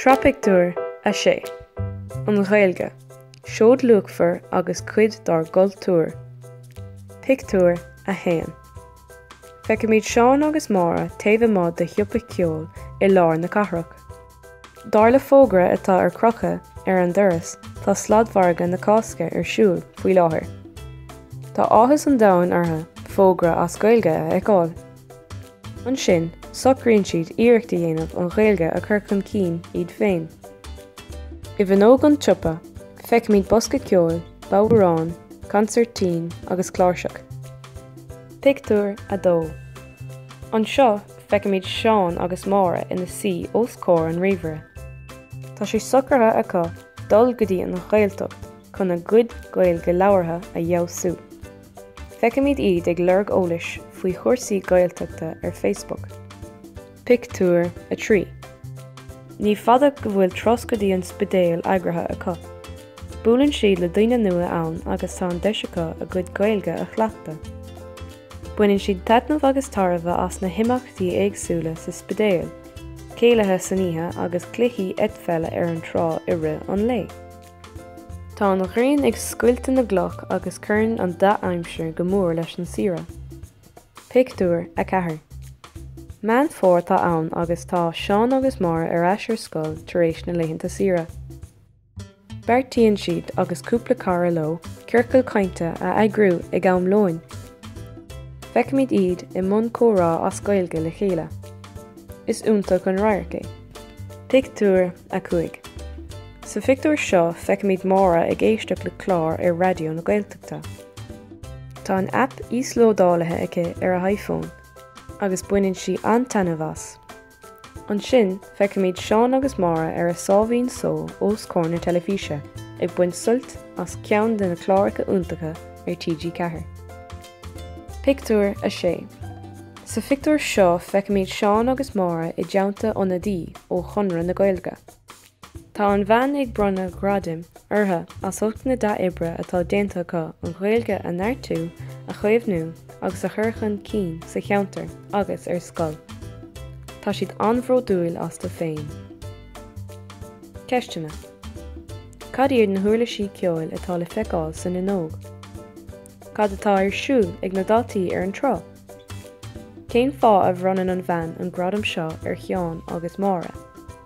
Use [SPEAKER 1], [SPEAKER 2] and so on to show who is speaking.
[SPEAKER 1] Sraith Pictiúr 6 An Ghaeilge, Seoid luachmhar agus cuid dár gcultúr Pictiúr 1 Feicimid Seán agus Máire taobh amuigh de shiopa ceoil i lár na cathrach. Dar le fógra atá ar crochadh ar an doras, tá sladmhargadh na Cásca ar siúl faoi láthair. Tá áthas an domhain orthu fógra as Gaeilge a fheiceáil. Ansin, socraíonn siad iarracht a dhéanamh an Ghaeilge a chur chun cinn iad féin. I bhfuinneog an tsiopa, feicimid bosca ceoil, bodhrán, consairtín agus cláirseach. Pictiúr 2 Anseo, Feicimid Seán agus Máire ina suí os comhair an ríomhaire. Tá sé socraithe acu dul go dtí an Ghaeltacht chun a gcuid Gaeilge labhartha a fheabhsú. Feicimid iad ag lorg eolais faoi chúrsaí Gaeltachta ar Facebook. Pictiúr 3 Ní fada go bhfuil turas go dtí an Spidéal eagraithe acu. Buaileann siad le daoine nua ann agus tá an deis acu a gcuid Gaeilge a chleachtadh. Baineann siad taitneamh agus tairbhe as na himeachtaí éagsúla sa Spidéal, céilithe san oíche agus cluichí eitpheile ar an trá i rith an lae. Tá an ghrian ag scoilteadh na gcloch agus cuireann an dea-aimsir go mór leis an saoire. Pictiúr 4 Meán Fómhair atá ann agus tá Seán agus Máire ar ais ar scoil tar éis na laethanta saoire. Beartaíonn siad agus cúpla cara leo ciorcal cainte a eagrú ag am lóin. Feicimid iad i mbun comhrá as Gaeilge le chéile. Is iontach an radharc é. Pictiúr 5 Sa phictiúr seo feicimid Máire ag éisteacht le clár ar Raidió na Gaeltachta. Tá an aip íoslódáilithe aici ar a hiFón agus baineann sí an-taitneamh as. Ansin, feicimid Seán agus Máire ar a sáimhín só os comhair na teilifíse, ag baint suilt as ceann de na cláracha iontacha ar TG Ceathair. Pictiúr 6 Sa phictiúr seo feicimid Seán agus Máire i dteannta ionadaí ó Chonradh na Gaeilge. Tá an bhean ag bronnadh gradaim orthu as ucht na dea-oibre atá déanta acu an Ghaeilge a neartú, a chaomhnú agus a chur chun cinn sa cheantar agus ar scoil. Tá siad an-bhródúil astu féin. Ceisteanna, Cad iad na huirlisí ceoil atá le feiceáil san fhuinneog? Cad atá ar siúl ag na daltaí ar an trá? Cén fáth a bhronnann an bhean an gradam seo ar Sheán agus Máire?